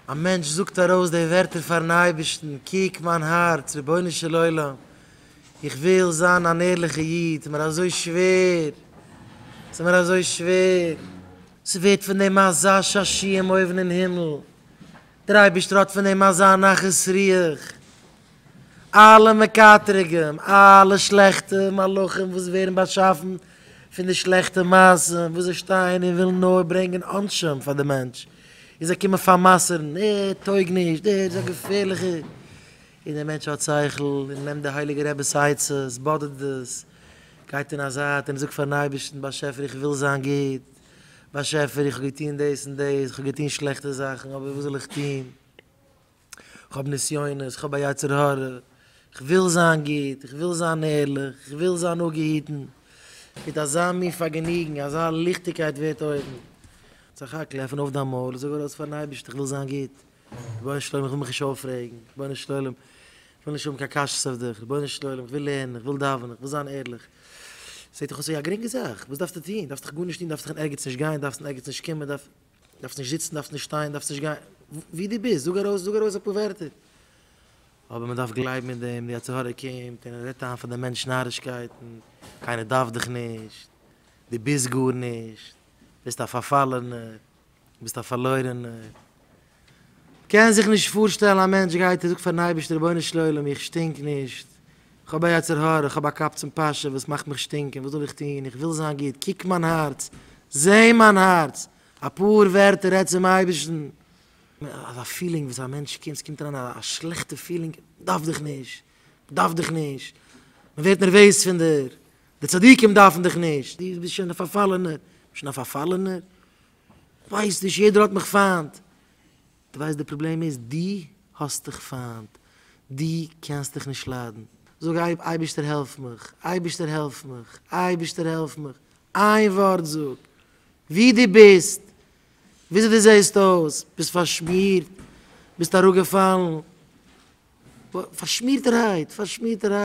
א מענטש זאגט ארויס די ווערטער פארן אייבערשטן, קוק מיין הארץ, רבונו של עולם, איך וויל זיין אן ערליכע איד, ס'מיר אזוי שווער, ס'מיר אזוי שווער. ס'ווערט פון דעם אזא שעשועון אויבן אין הימל, דער אייבערשטער האט פון דעם אזא נחת רוח. אלע מקטריגים, אלע שלעכטע מלאכים וואס ווערן באשאפן פון די שלעכטע מעשים וואס זיי שטייען און ווילן נאר ברענגען עונשים פאר די מענטש, און זיי קומען פאר'מסר'ן, ער טויג נישט, דער איז א געפערליכער, און דער מענטש האט שכל און נעמט די הייליגע רבי'ס עצות, באדערט דאס, גייט אין א זייט און זאגט פאר'ן אייבערשטן, באשעפער איך וויל זיין גוט, באשעפער איך האב געטון דאס און דאס, איך האב געטון שלעכטע זאכן, אבער וואס זאל איך טון? כ'האב נסיונות, כ'האב א יצר הרע, כ'וויל זיין גוט, כ'וויל זיין ערליך, כ'וויל זיין אפגעהיטן, מיט אזא מין פארגעניגן, אזא ליכטיגקייט ווערט אויבן. זאך האקל, עפן אויף דיין מויל און זאג ארויס פארן אייבערשטן, כ'וויל זיין גוט, רבונו של עולם, כ'וויל מיך נישט אויפרעגן, רבונו של עולם, כ'וויל נישט האבן קיין קשיות אויף דיך, רבונו של עולם, כ'וויל לערנען, כ'וויל דאווענען, כ'וויל זיין ערליך. זעט דיך אויס ווי א גרינגע זאך, וואס דארפסטו טון? דארפסט דיך גארנישט טון, דארפסט קיין ערגעץ נישט גיין, דארפסט אין ערגעץ נישט קומען, דארפסט. דארפסט נישט זיצן, דארפסט נישט שטיין, דארפסט נישט גיין, ווי דו ביסט, זאג ארויס, זאג ארויס אפאר ווערטער. אבער מען דארף גלייבן אין דעם, די יצר הרע קומט און ער רעדט איין פאר דעם מענטש נארישקייטן, קיינער דארף דיך נישט, דו ביסט גארנישט, ביסט א פארפאלענער, ביסט א פארלוירענער. קען זיך נישט פארשטעלן א מענטש גייט און זאגט פארן אייבערשטער רבונו של עולם איך שטינק נישט, כ'האב א יצר הרע, איך האב א קאפ צום פאשע וואס מאכט מיך שטינקען, וואס זאל איך טון? איך וויל זיין גוט, קוק מיין הארץ, זע מיין הארץ, אפאר ווערטער, רעד צום אייבערשטן. אזא פילינג וואס א מענטש קומט, ס'קומט אריין א שלעכטע פילינג, מ'דארף דיך נישט, מ'דארף דיך נישט, מ'ווערט נערוועז פון דיר, די צדיקים דארפן דיך נישט, דו ביסט שוין א פארפאלענער, שוין א פארפאלענער? כ'ווייס נישט, יעדער האט מיך פיינט. די ווייסט די פראבלעם איז די האסט דיך פיינט די קענסט דיך נישט ליידן זאג אייב אייבישטער העלף מיך אייבישטער העלף מיך אייבישטער העלף מיך איין ווארט זאג ווי די ביסט וויאזוי די זעהסט אויס ביסט פארשמירט ביסט אראפגעפאלן פארשמירטערהייט פארשמירטערהייט.